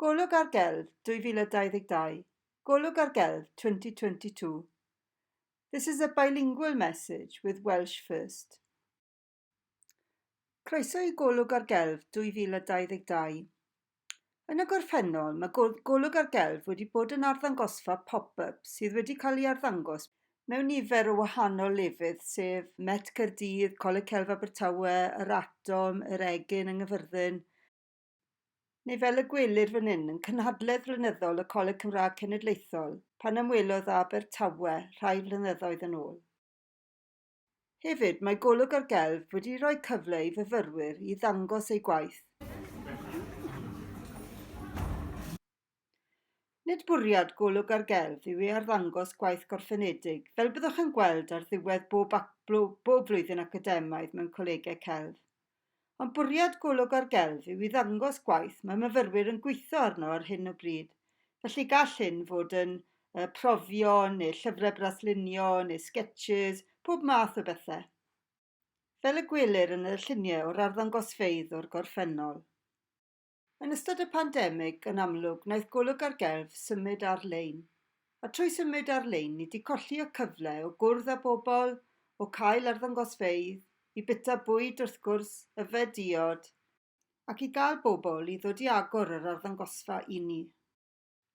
Golwg ar Gelf 2022 Golwg ar Gelf 2022 This is a bilingual message with Welsh first. Croeso i Golwg ar Gelf 2022. Yn y gorffennol, mae Golwg ar Gelf wedi bod yn arddangosfa pop-up sydd wedi cael ei arddangos mewn nifer o wahanol lefydd, sef Met Caerdydd, Coleg Celf Abertawe, Yr Atom, Yr Egin yng Nghyfyrddin, neu fel y gwelir fan 'yn, yn cynhadledd flynyddol y Coleg Cymraeg Cenedlaethol, pan ymwelodd â Abertawe rhai flynyddoedd yn ôl. Hefyd, mae Golwg ar Gelf wedi rhoi cyfle i fyfyrwyr i ddangos eu gwaith. Nid bwriad Golwg ar Gelf yw i arddangos gwaith gorffenedig, fel byddwch yn gweld ar ddiwedd bob bob flwyddyn academaidd mewn colegau celf. Ond bwriad Golwg ar Gelf yw i ddangos gwaith mae myfyrwyr yn gweithio arno ar hyn o bryd, felly gall hyn fod yn uh, profion neu llyfrau braslunio neu sketches, pob math o bethau. Fel y gwelir yn y lluniau o'r arddangosfeydd o'r gorffennol. Yn ystod y pandemig, yn amlwg, wnaeth golwg ar gelf symud ar-lein. A trwy symud ar-lein, ni 'di colli y cyfle o gwrdd â bobl, o cael arddangosfeydd, i bita bwyd, wrth gwrs, yfed diod, ac i gael bobl i ddod i agor yr arddangosfa i ni.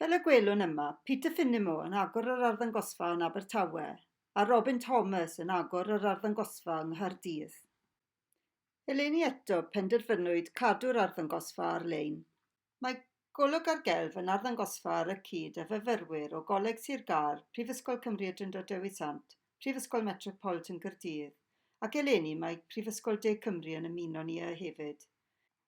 Fel y gwelwn yma, Peter Finnimore yn agor yr arddangosfa yn Abertawe a Robin Thomas yn agor yr arddangosfa yng Nghaerdydd. Eleni eto, penderfynwyd cadw'r arddangosfa ar-lein. Mae Golwg ar Gelf yn arddangosfa ar y cyd â fyfyrwyr o Goleg Sir Gâr, Prifysgol Cymru y Drindod Dewi Sant, Prifysgol Metropolitan Caerdydd, ac eleni mae Prifysgol De Cymru yn ymuno ni â hefyd.